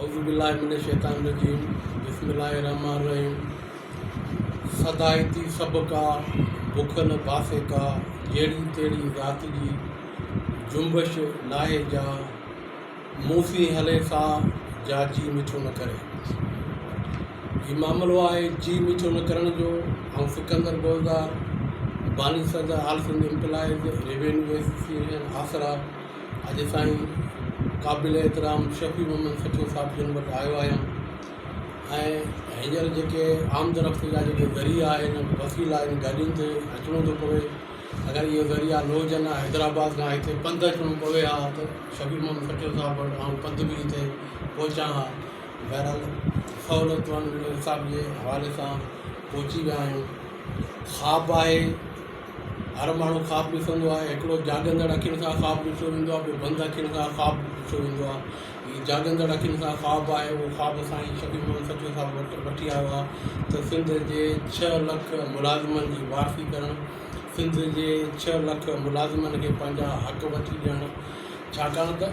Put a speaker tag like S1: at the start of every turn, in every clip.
S1: اعوذ باللہ من الشيطان الرجيم بسم الله الرحمٰن الرحيم سدائي ٿي سڀ ڪا بک نه باسي ڪا جهڙي تهڙي ذات جي جنبش ناهي جا مون سين هلي سا جا جي مٺو نه ڪري هي معاملو آهي جي مٺو نه ڪرڻ جو آئون سڪندر گولزار باني صدر all Sindh employees revenue association آسرا اڄ سائين قابل احترام شفيع محمد سچو صاحب جن وٽ آيو آهيان ۽ هينئر جيڪي عام درخت جا جيڪي ذريعا آهن وسيلا آهن گاڏين تي اچڻو ٿو پوي اگر اهي ذريعا نه هجن ها حيدرآباد کان هتي پنڌ اچڻو پوي ها ته شفيع محمد سچو صاحب وٽ آئون پنڌ به هتي پهچان ها بهرحال سهولتون حساب جي حوالي سان پهچي ويا آهيون خواب آهي هر ماڻهو خواب ڏسندو آهي. هڪڙو جاڳندڙ اکين سان خواب ڏسيو ويندو آهي، ٻيو بند اکين سان خواب ڏسيو ويندو آهي. هي جاڳندڙ اکين سان خواب آهي، اهو خواب سائين شفيع محمد سچو صاحب وٽ وٺي آيو آهي ته سنڌ جي ڇهه لک ملازمن جي وارثي ڪرڻ، سنڌ جي ڇهه لک ملازمن کي پنهنجا حق وٺي ڏيڻ، ڇاڪاڻ ته.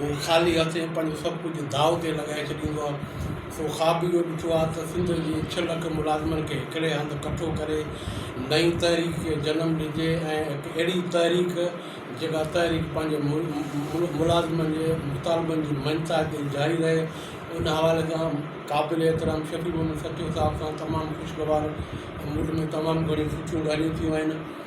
S1: هو خالي هٿين پنهنجو سڀ ڪجهه داء تي لڳائي ڇڏيندو آهي. سو خواب اهو ڏٺو آهي ته سنڌ جي ڇهه لک ملازمن کي هڪڙي هنڌ ڪٺو ڪري نئين تحريڪ کي جنم ڏجي ۽ هڪ اهڙي تحريڪ جيڪا تحريڪ پنهنجي ملازمن جي مطالبن جي مڃتا تي جاري رهي ان حوالي سان قابل احترام شفيع محمد سچو صاحب سان تمام خوشگوار موڊ ۾ تمام گهڻيون سٺيون ڳالهيون ٿيون آهن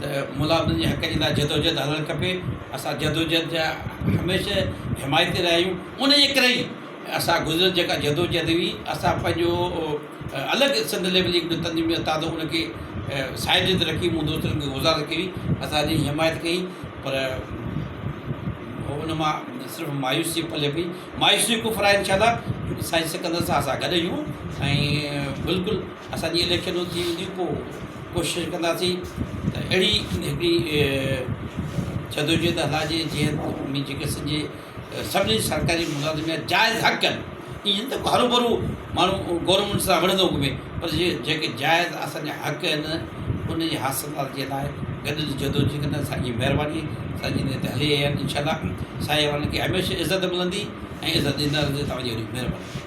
S2: ته مولا انهن جي حق جي لاء جدوجهد هلڻ کپي اسان جدوجهد جا هميشه حمايتي رهيا آهيون ان جي ڪري ئي اسان گذريل جيڪا جدوجهد هئي اسان پنهنجو الڳ سنڌ ليول جي هڪڙو تنظيم جو تازو ان کي سائيڊ جي اندر رکي مون دوستن کي گذارش ڪئي هئي اسان ان جي حمايت ڪئي پر هو ان مان صرف مايوسي پلي پئي مايوسي ڪفر آهي انشاء الله سائين سڪندر سان اسان گڏ آهيون ۽ بلڪل اسان جي اليڪشنون ٿي وينديون پوء ڪوشش ڪنداسين ته اهڙي هڪڙي جدوجهد هلائجي جيئن مين جي ڪيسن جي سڀني سرڪاري ملازم جا جائز حق آهن ائين ته هرو برو ماڻهو گورنمينٽ سان وڙهندو گهمي پر جي جيڪي جائز اسانجا حق آهن ان جي حاصل جي لاء گڏجي جدوجهد ڪنداسين سائين جي مهرباني سائين جن تي هلي آيا آهن انشاء الله سائين اوهان کي هميشه عزت ملندي ۽ عزت ڏيندا رهندي توهان جي وڏي مهرباني